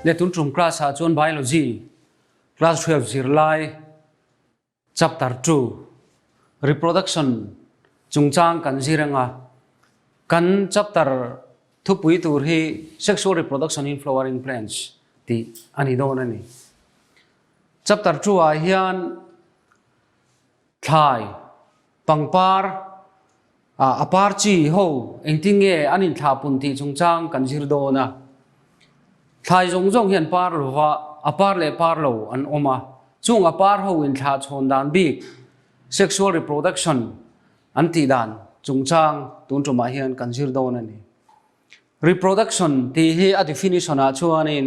Letun ṭum class-ah chuan Biology class hriat zirlai chapter two, Reproduction chungchang kan zir anga, kan chapter thupui tur hi Sexual Reproduction in Flowering Plants tih a ni dawn a ni. Chapter two-ah hian Thlai. Pangpar. Ah, a par chi ho, engtin nge an inthlah pun tih chung chang kan zir dawn a. Thlai zawng zawng hian par lova, a par leh par lo an awm a, chung a par ho inthlah chhawn dan bik, sexual reproduction, an tih dan chung chang tun tumah hian kan zir dawn a ni. Reproduction tih hi a definition-ah chuanin,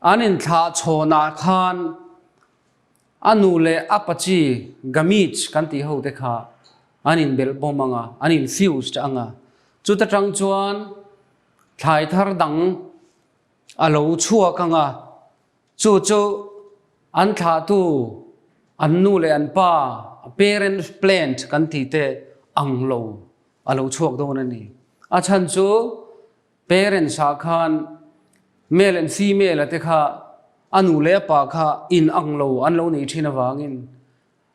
An inthlâh chhawnah khân a nu leh a pachi gamete kan tih ho te kha an inbelh bawm ang a, an infused ang a. Chuta ṭang chuan thlai thar dang a lo chhuak ang a, chu chu an thlahtu an nu leh an pa, parent plant kan tih te ang lo a lo chhuak dawn a ni. A chhan chu Parents ah khan male and female a te kha a nu leh a pa kha in ang lo an lo nei thin avangin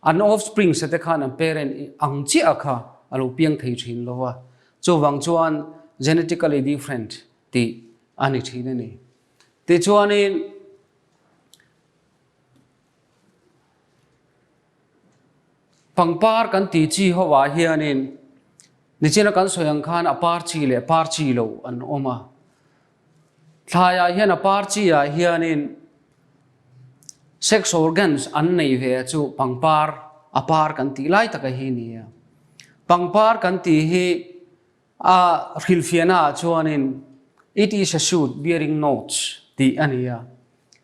an offsprings a te khan an parent ang chiah kha a lo piang thei thin lo a, chuvang chuan genetically different tih a ni thin a ni. Tichuanin. Pangpar kan ti chi ho ah hian in nichin a kan sawi ang khan a par chi leh par chi lo an awm a. Thlai ah hian a par chi ah hian in sex organs an nei ve a chu pangpar a par kan ti lai tak a hi ni a. Pangpar kan ti hi A hrilhfiahnaah chuanin It is a suit bearing notes tih a ni a,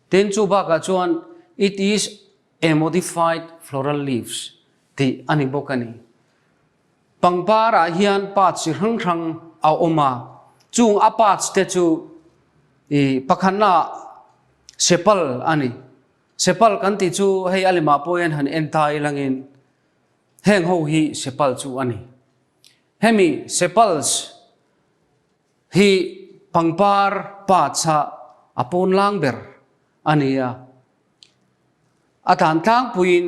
tin chu bakah chuan It is a modified floral leaves tih a ni bawk a ni. Pangparah hian parts chi hrang hrang a awm a, chung a parts te chu i pakhatnaah sepal a ni. Sepal kan tih chu hei a lemah pawhin han en ta ilangin heng ho hi sepal chu a ni. Hemi sepals hi pangpar pa chhah a pawn lang ber a ni a, a dan tlangpuiin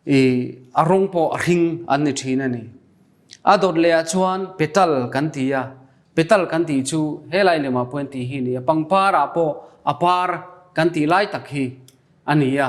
i a rawng pawh a hring an ni thin a ni. A dawt lehah chuan petal kan ti a, petal kan tih chu helai lemah pawh an tih hi a ni a, pangparah pawh a par kan tih lai tak hi a ni a.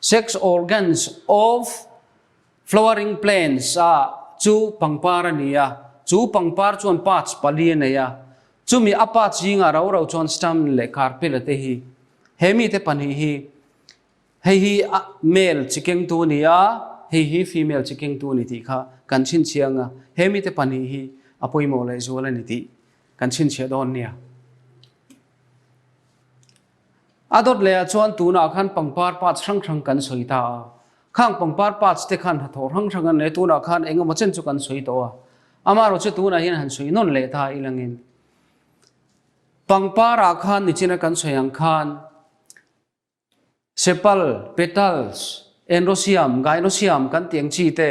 Sex organs of flowering plants a chu pangpar a ni a, chu pangpar chuan parts pali a nei a. Chumi a parts zingah ro ro chuan stamen leh carpella te hi. He mite pahnih hi, hei hi male chi kengtu a ni a, hei hi female chi kengtu a ni tih kha kan chhinchhiah anga, he mite pahnih hi a pawimawh leh zual a ni tih kan chhinchhiah dawn nia. A dawt lehah chuan tunah khan pangpar parts hrang hrang kan sawi ta a, khang pangpar parts te khan hnathawh hrang hrang an nei, tunah khan engemaw chen chu kan sawi tawh a, amaherawh chu tunah hian han sawi nawn leh ta i lang in. Pangparah khan nichina kan sawi ang khan sepal, petals, enrosium, gynosium kan tih ang chi te,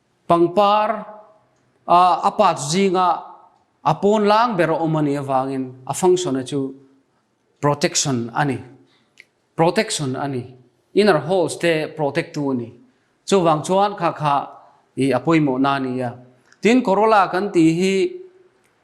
Pangpar, a a part zinga a pawn lang ber a awm a nih avangin a function a chu protection a ni. Protection a ni. Inner holes te protect tu a ni. Chuvang chuan kha kha ih a pawimawhna a ni a. Tin corolla kan tih hi.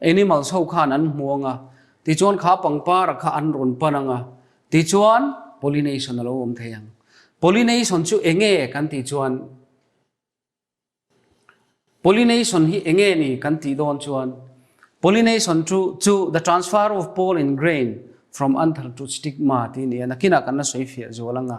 Animals ho khan an hmuang a, tichuan kha pangpara kha an rawn pan ang a, tichuan pollination a lo awm thei ang. Pollination chu eng nge kan tih chuan, pollination hi eng nge ni kan tih dawn chuan, pollination chu chu the transfer of pollen grain from anther to stigma tih nia, nakinah kan la sawi fiah zual ang a.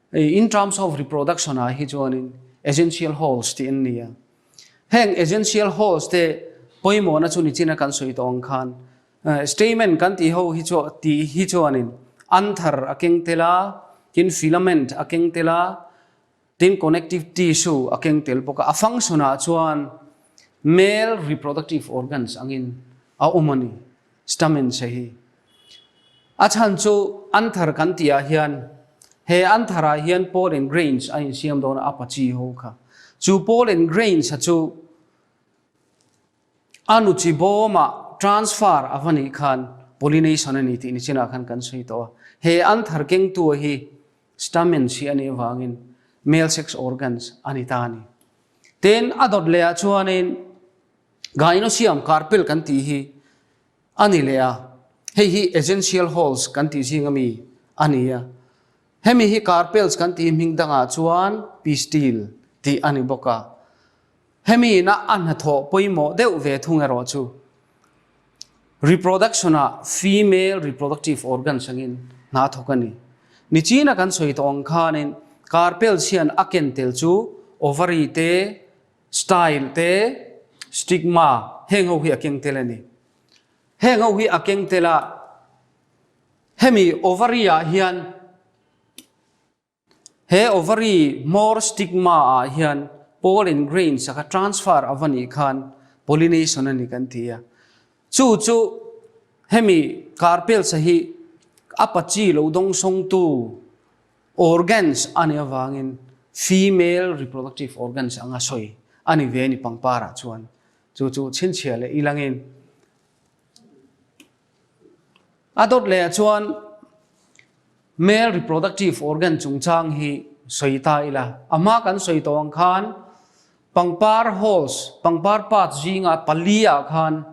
In terms of reproduction ah hi chuanin essential holes tih an ni a. Heng essential holes te pawimawhna chu nichina kan sawi tawh ang khan stamen kan tih ho hi chu tih hi chuanin anther a keng tel a, tin filament a keng tel a, tin connective tissue a keng tel bawk a. A function ah chuan male reproductive organs angin a awm a ni. Stamen se hi. A chhan chu Anther kan tih ah hian he Anther ah hian Paul and Grains a insiam dawn a apa chi ho kha. Chu Paul and Grains a chu a nu chi bawm ah transfer a va nih khan pollination a ni tih nichin ah khan kan sawi tawh a. He Anther keng tu a hi stamen si a nih avang in male sex organs a ni ta a ni. Tin a dawt leh ah chuan in. Ghaino siam kar pel kan tih hi a ni leh a, hei hi essential halls kan tih zing a mi a ni a. Hemi hi kar pels kan tih hming dangah chuan pistille tih a ni bawk a. Hemi ina a hnathawh pawimawh deuh ve thung erawh chu, reproduction ah female reproductive organs angin hnathawk a ni. Nichina kan sawi tawh ang khanin kar pels hian a ken tel chu ovary te, Style te, stigma, heng ho hi a keng tel a ni. Heng ho hi a keng tel a, hemi ovary ah hian, he ovary hmawr stigma ah hian pollen grains a kha transfer a va nih khan pollination a ni kan ti a. Chu chu hemi Carpels-a hi a pachi lo dawngsawngtu, Organs a nih avangin female reproductive organs anga sawi a ni ve a ni pangparah chuan chu chu chhinchhiah leh i langin a dawt leh ah chuan male reproductive organ chungchang hi sawi ta ila. A hma kan sawi tawh ang khan Pangpar Halls, pangpar parts zinga paliah khan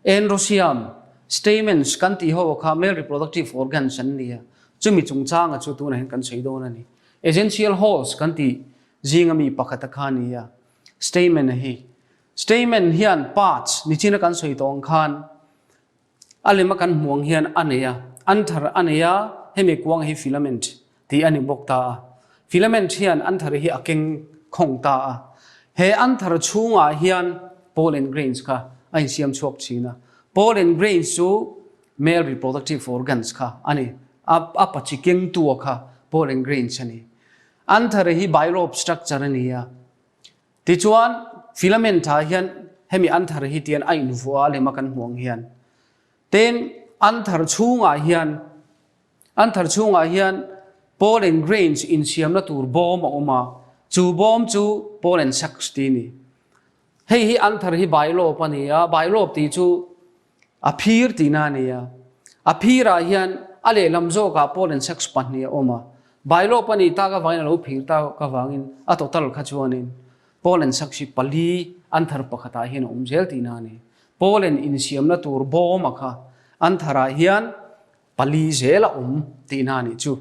Androsium stamens kan tih ho kha male reproductive organs an ni a, chumi chungchanga chu tunah hian kan sawi dawn a ni. Essential Halls kan tih zinga mi pakhata kha a ni a, stamen a hi. Stamen hian parts nichin a kan sawi tawng khan A lem a kan hmuh ang hian a nei a, an thar a nei a, hemi kuang hi filament tih a ni bawk ta a. Filament hian an thar hi a keng khawng ta a. He an thar chhungah hian pollen grains kha a insiam chhuak thin a. Pollen grains chu male reproductive organs kha a ni. A a pachi kengtu a kha pollen grains a ni. An thar hi bilobe structure a ni a. Tichuan, Filament tha hian hemi an thar hi tian a invuah a lem a kan hmuh ang hian. Tin, an thar chhungah hian, an thar chhungah hian pollen grains insiamna tur bawm a awm a, chu bawm chu pollen sacs tih a ni. Hei hi an thar hi bailawp a ni a, bailawp tih chu. A phir tihna a ni a. A phirah hian a lehlam zawkah Paul and Sex pahnih a awm a. Bailo pahnih tak avangin a lo phir tak avangin a total kha chuanin Paul and Sex hi pali an thar pakhatah hian a awm zel tihna a ni. Paul and insiamna tur bawma kha an tharah hian pali zel a awm tihna a nih chu.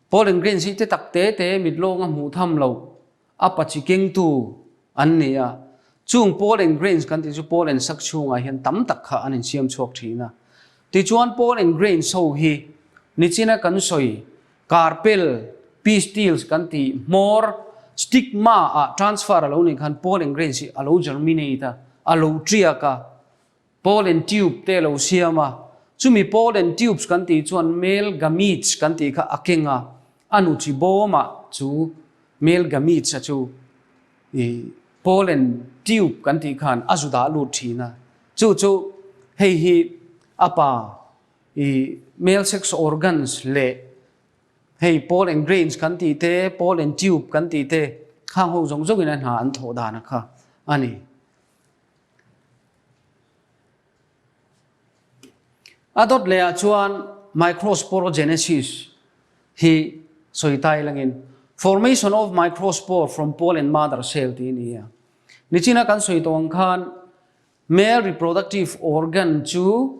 Paul and Green zite tak te te mitlawng a hmuh tham lo a pachi kengtu an ni a. Chung Paul and Green kan tih chu Paul and Sak chhungah hian tam tak kha an insiam chhuak thin a. Tichuan Paul and Green show hi nichina kan sawi kar pel pistils kan tih hmawr stigma ah transfer a lo nih khan Paul and Green hi a lo germinate a, a lo tiak a. Pollen tube te lo siam a, chumi pollen tubes kan tih chuan male gametes kan tih kha a keng a, a nu chi bawma chu male gametes a chu i pollen tube kan tih khan a zu dah lut thin a, chu chu hei hi a pa i male sex organs leh hei pollen grains kan tih te, pollen tube kan tih te khang ho zawng zawngin a hna an thawh dan a kha a ni. A dawt lehah chuan microsporogenesis hi sawi tai langin formation of microspore from pollen mother cell tih a ni a. Nichina kan sawi tawh ang khan male reproductive organ chu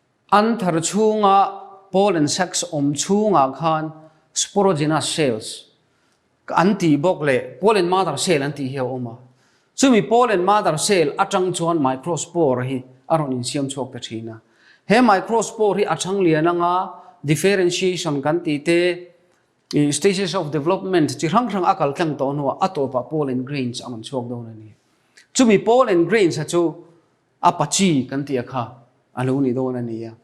An thar chhunga Paul and Sex awm chhungah khan Sporogenous cells an tih bawk leh Paul and Mother cell an tih hi a awm a. Chumi Paul and Mother cell atang chuan microspore hi a rawn insiam chhuak ta thin a. He microspore hi a chhang lian anga differentiation kan tih te, stages of development chi hrang hrang a kal tlang tawh hnuah a tawpah Paul and Grains a rawn chhuak dawn a ni. Chumi Paul and Grains-a chu Apache kan tih a kha a lo ni dawn a nia.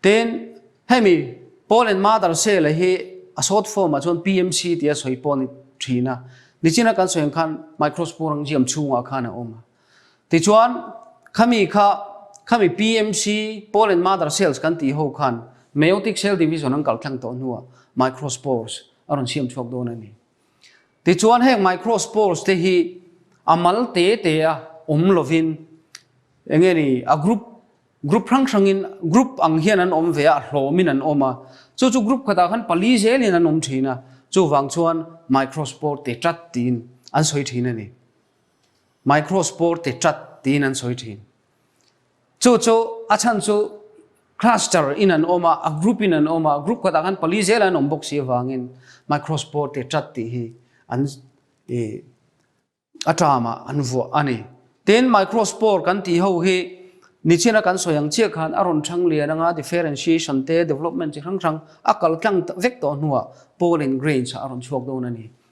Tin, hemi Paul and Mother Shelley hi a short form-ah chuan PMC tia sawi pawh a ni thin a. Nichina kan sawi ang khan Microsoft Rangiam chhungah khan a awm a. Tichuan, khami kha, khami PMC, Paul and Mother Shells, kan tih ho khan Meiotic Shell Division an kalh thleng tawh hnuah Microspores a rawn siam chhuak dawn a ni. Tichuan heng microspores te hi a mal te te a awm lovin eng nge ni a group group hrang hrangin group ang hian an awm ve a, a hlawmin an awm a. Chu chu group khatah khan pali zelin an awm thin a, chuvang chuan microspore te tat tiin an sawi thin a ni. Microspore te tat tiin an sawi thin. Chu chu a chhan chu cluster in an awm a, a group in an awm a, group kawtah khan pali zela an awm bawk si avangin microspore tih tat tih hi an aṭama an vuah a ni. Tin microspore kan tih ho hi nichina kan sawi ang chiah khan a rawn chhang lian anga differentiation te development chi hrang hrang a kal tlang vek tawh hnuah pollen grains ah a rawn chhuak dawn a ni.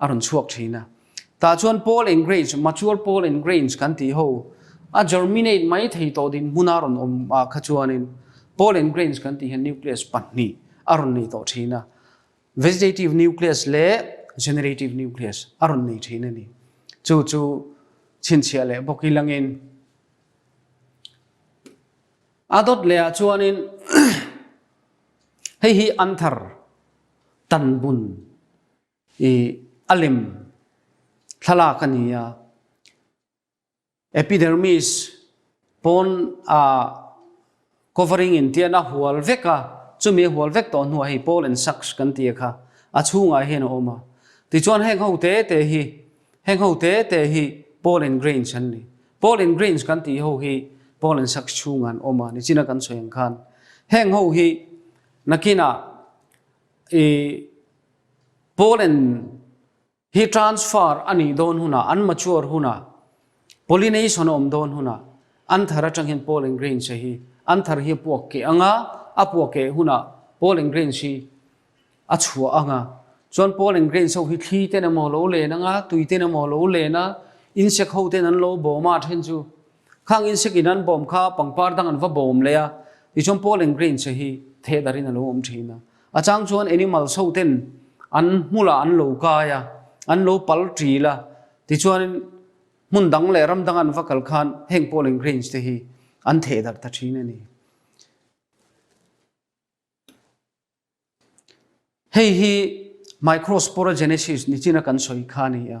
a rawn chhuak thin a. Tah chuan Paul and Grace, Mature Paul and Grace kan tih ho, a germinate mai thei tawh dinhmun a rawn awm ah kha chuanin Paul and Grace kan tih hian nucleus pahnih a rawn nei tawh thin a, vegetative nucleus leh generative nucleus a rawn nei thin a ni. Chu chu chhinchhiah leh bawk i langin a dawt lehah chuanin hei hi Anther tanbun. I a lem thlalak a ni a. Epidermis pawn a covering in tian a hual vek a, chumi a hual vek tawh hnuah hi pollen sacs kan ti a kha, a chhungah hian a awm a. Tichuan heng ho te te hi, heng ho te te hi pollen grains an ni. Pollen grains kan tih ho hi pollen sacs chhungah an awm a, nichina kan sawi ang khan heng ho hi nakinah i, Poland hi transfer a nih dawn hunah, an mature hunah, pollination a awm dawn hunah, an thar atang hian pollen grains a hi, an thar hi a puak keh ang a, a puak keh hunah pollen grains hi a chhuah ang a. Chuan pollen grains ho hi thli ten emaw lo len ang a, tui ten emaw lo len a, insect ho ten an lo bawm a then chu. Khang insect in an bawm kha pangpar dang an va bawm leh a, tichuan pollen grains a hi theh darin a lo awm thin a. A chang chuan animals ho ten an hmu lah an lo kai a, an lo pal ṭil a, tichuanin hmun dang leh ram dang an va kal khan heng polling grains te hi an theh darh ta ṭhin a ni. Hei hi microsporogenesis ni chin a kan sawi kha a ni a.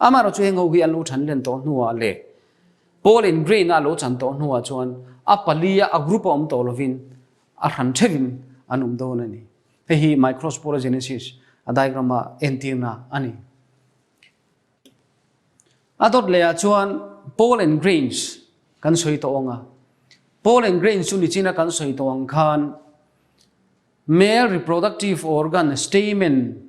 Amaherawh chu heng ho hi an lo chhan len tawh hnuah leh Paul in Grain a a lo chan tawh hnuah chuan a palia a group a awm tawh lovin a hran theuhin an awm dawn a ni. Hei hi microsporogenesis a diagram a entirna a ni. A dawt leh ah chuan Paul and Grains kan sawi tawh ang a, Paul and Grains chu nichina kan sawi tawh ang khan male reproductive organ stamen,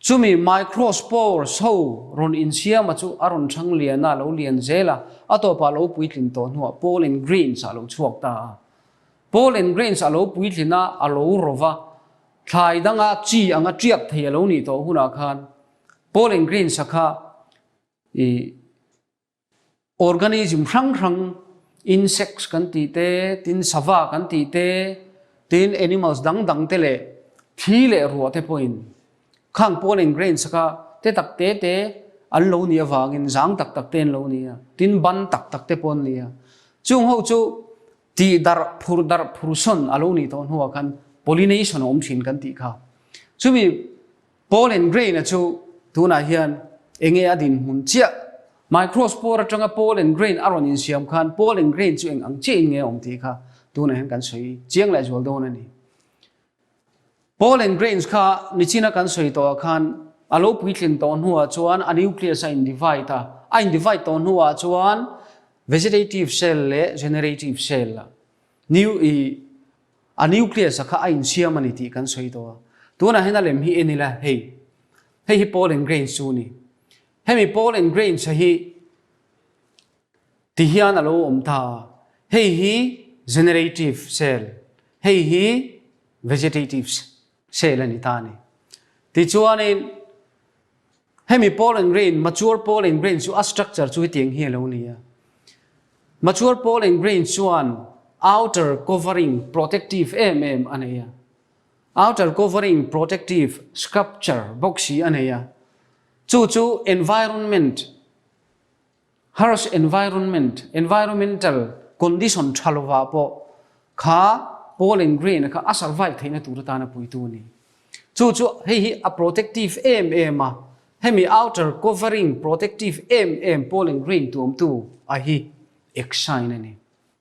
Chumi microspores ho rawn insiama chu a rawn chhang liana lo lian zel a, a tawpah lo puitlin tawh hnuah pollen grains a lo chhuak ta a. Pollen grains a lo puitlin a, a lo ro va, thlai danga chi anga tiak thei a lo nih tawh hunah khan pollen grains a kha i Organism hrang hrang, insects kan tih te, tin sava kan tih te, tin animals dang dang te leh thi leh ruah te pawhin khang pollen grains aka te tak te te an lo nih avangin zang tak tak te an lo ni a, tin ban tak tak te pawh an ni a. Chung ho chu tih darh phur darh phur sawn a lo ni dawn ho ah khan pollination a awm thin kan tih kha. Chumi. Paul and Grain-a chu tunah hian eng nge a dinhmun chiah? My Crossboard atanga Paul and Grain a rawn insiam khan Paul and Grain chu eng ang chiahin nge a awm tih kha tunah hian kan sawi chiang leh zual dawn a ni. Paul and Grains kha nichina kan sawi tawh ah khan a lo puitling tawh hnu ah chuan a nucleus a individe a, a individe tawh hnu ah chuan vegetative cell leh generative cell a new ih, A nucleus-a kha a insiam a ni tih kan sawi tawh a, tunah hian a lem hi en ila, hei, hei hi pollen grains chu a ni. Hemi pollen grains-a hi ti hian a lo awm ta a, hei hi generative cell, hei hi vegetative cell a ni ta a ni. Tichuanin. Hemi pawl and grain, mature pawl and grain chu a structure chu hetiang hi a lo nei a, mature pawl and grain chuan outer covering protective em em a nei a, outer covering protective sculpture bawk si a nei a, chu chu environment, Harsh environment, environmental condition tha lovah pawh kha Paul and Grain-a kha a survive theihna tur atana puitu a ni. Chu chu hei hi a protective em em a, hemi outer covering protective em em Paul and Grain tuamtu a hi exine a ni.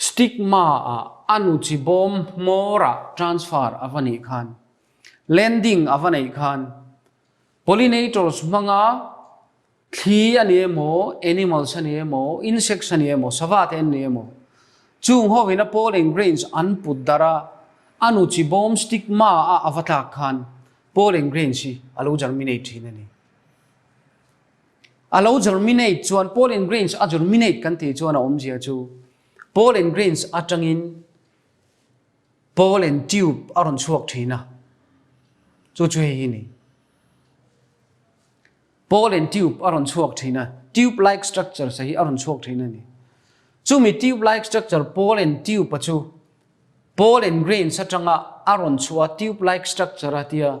Stigma a a nu chi bawm hmawra transfer a va nih khan, landing a va neih khan, pollinators hmanga thli a ni emaw, animals a ni emaw, insects a ni emaw, sava te an ni emaw, chung ho ina pollen grains an put darh a, a nu chi bawm stigma a a va tlak khan pollen grains hi a lo germinate thin a ni. A lo germinate chuan pollen grains a germinate kan tih chuan a awmzia chu pollen grains atangin pollen tube a rawn chhuak thin a. Chu chu hei hi ni. Pollen tube a rawn chhuak thin a. Tube like structure sa hi a rawn chhuak thin a ni. Chu mi tube like structure pollen tube a chu pollen grains atanga a rawn chhuah tube like structure a tia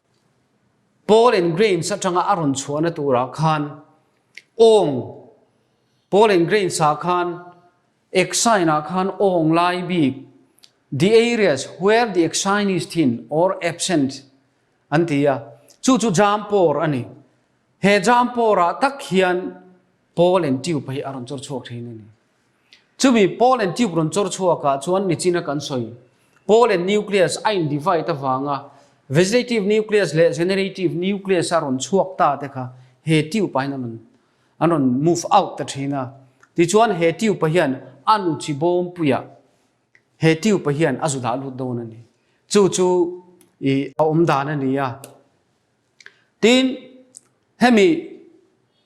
Pollen grains atanga a rawn chhuahna turah khan awng pollen grains ah khan exine ah khan awng lai bik the areas where the exine is thin or absent an ti a chu chu jam pawr a ni he jam pawrah tak hian pollen tube hi a rawn chawr chhuak thin a ni. Chumi Paul and Tube rawn chawr chhuakah chuan mi china kan sawi. Paul and Nucleus a in divide avanga Vegetative Nucleus leh Generative Nucleus a rawn chhuak ta te kha he tube-ah hian an rawn an rawn move out ta thin a. Tichuan he tube-a hian a nu chi bawm puia he tube-a hian a zu dah lut dawn a ni. Chu chu i a awm dan a ni a. Tin, hemi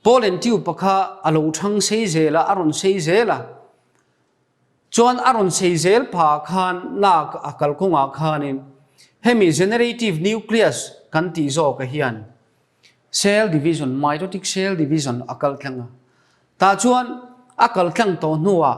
Paul and Tiupa kha a lo thang sei zel a, a rawn sei zel a. Chuan a rawn sei zel pha khan lak a kalkawngah khanin hemi generative nucleus kan tih zawkah hian cell division, mitotic cell division a kal thleng a. Tah chuan a kal thleng tawh hnuah,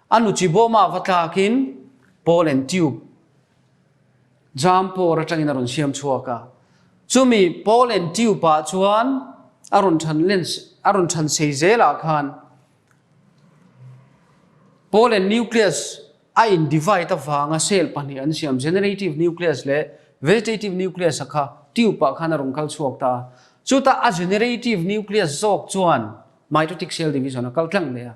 A nu chi bawmah va tlakin pawl and tube jam pawr atangin a rawn siam chhuak a. Chumi pawl and tube ah chuan a rawn than len a rawn than sei zel ah khan pawl and nucleus a in divide avanga cell pahnih an siam, generative nucleus leh vegetative nucleus a kha tube ah khan a rawn kal chhuak ta a. Chuta a generative nucleus zawk chuan mitotic cell division a kal tlang leh a.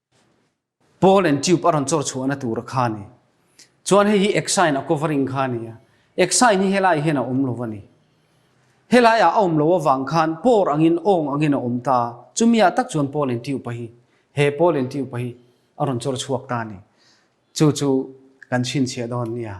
Pawl and tube a rawn chawr chhuahna tura kha a ni. Chuan hei hi exile a covering kha a ni a. Exile hi helaiah hian a awm lo a ni. Helaiah a awm lo avang khan pawr angin awng angin a awm ta a. Chumiah tak chuan Pawl and tube a hi, he Pawl and tube a hi a rawn chawr chhuak ta a ni. Chu chu kan chhinchhiah dawn nia.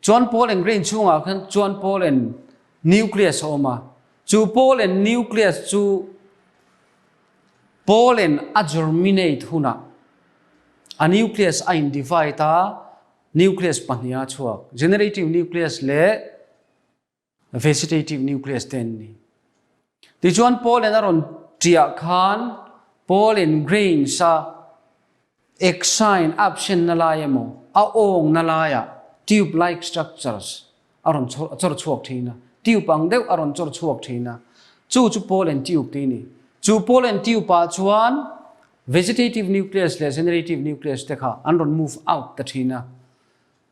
Chuan Paul and Grey inchhungah khan chuan Paul and Nucleus a awm a. Chu Paul and Nucleus chu pollen a germinate hunah a nucleus a individe a, nucleus pahnih a chhuak, generative nucleus leh Vegetative nucleus te an ni. Tichuan pollen a rawn tiah khan pollen grains a exine, absent, na lai emaw a awng na laiah tube-like structures a rawn chawr chhuak thin a, tube ang deuh a rawn chawr chhuak thin a, chu chu pollen tube te a ni. Chu pollen tube ah chuan vegetative nucleus leh generative nucleus te kha an rawn move out ta thin a.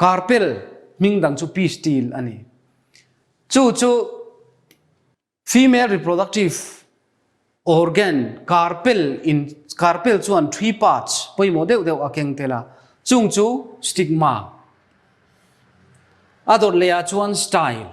Karpel hming dang chu P steel a ni. Chu chu female reproductive organ karpel in karpel chuan three parts pawimawh deuh deuh a keng tel a. Chung chu stigma. A dawt leh ah chuan style.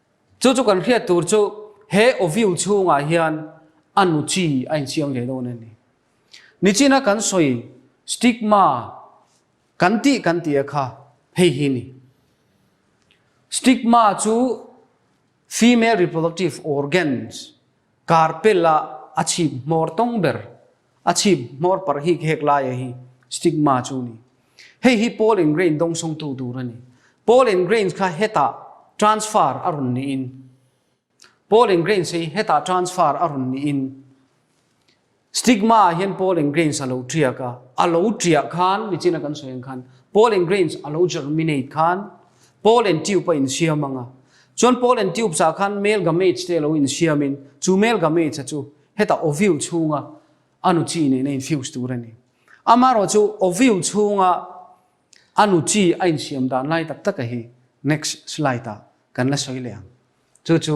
Chu chu kan hriat tur chu he Oviu chhungah hian a nu chi a insiam ve dawn a ni. Nichina kan sawi stigma kan tih kan tia kha hei hi ni. Stigma chu female reproductive organs, Kar pela a chhip hmawr tawng ber. A chhip hmawr par hik hek laia hi stigma chu a ni. Hei hi pollen grain dawng sawngtu tur a ni. Pollen grains kha heta transfer a rawn niin, pollen grains hi heta transfer a rawn niin, Stigma ah hian Paul and Grains a lo tiak a, a lo tiah khan mi chin a kan sawi ang khan Paul and Grains a lo germinate khan Paul and Tube a insiam ang a. Chuan Paul and Tubes ah khan male gametes te a lo insiam in chu male gametes a chu heta ovule chhung a a nu chi nena infuse tur a ni. Amaherawh chu ovule chhung a a nu chi a insiam dan lai tak tak a hi next slide ah kan la sawi leh ang. Chu chu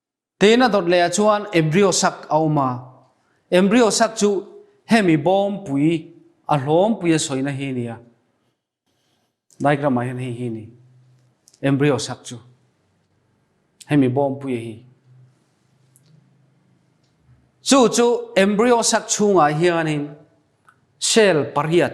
Tena dawt leh ah chuan embryo sac a awm a, embryo sac chu hemi bawm pui a hlawm pui a sawina hi a ni a, diagram ah hian hei hi a ni embryo sac chu, hemi bawm pui a hi. Chu chu embryo sac chhungah hianin cell pariat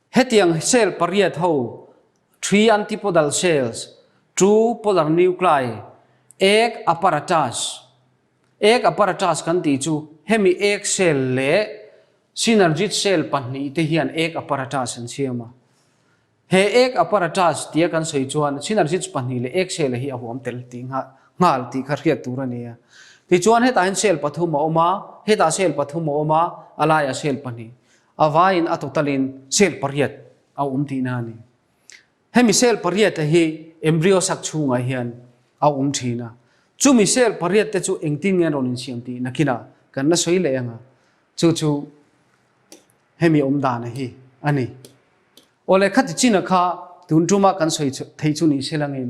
Hetiang cell pariat ho, three antipodal cells, chu polar nuclei, egg apparatus, egg apparatus, kan tih chu. Hemi egg cell leh synergid cell pahnih te hian egg apparatus an siam a. He egg apparatus tia kan sawi chuan synergids pahnih leh egg cell-a hi a huam tel tih nghal tih kha hriat tur a ni a. Tichuan hetahin cell pathum a awm a, hetah cell pathum a awm a, a laiah cell pahnih. A vaiin a totalin cell pariat a awm tihna a ni. Hemi cell pariate hi embryo sak chhungah hian a awm thin a. Chumi cell pariatte chu engtin nge an rawn insiam tih nakina kan la sawi leh anga, chu chu hemi awmdana hi a ni. Aw lehkha ti china kha tun tuma kan sawi thei chu ni se langin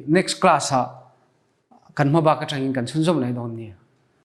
next class-ah kan hmabak atangin kan chhunzawm lai dawn nia.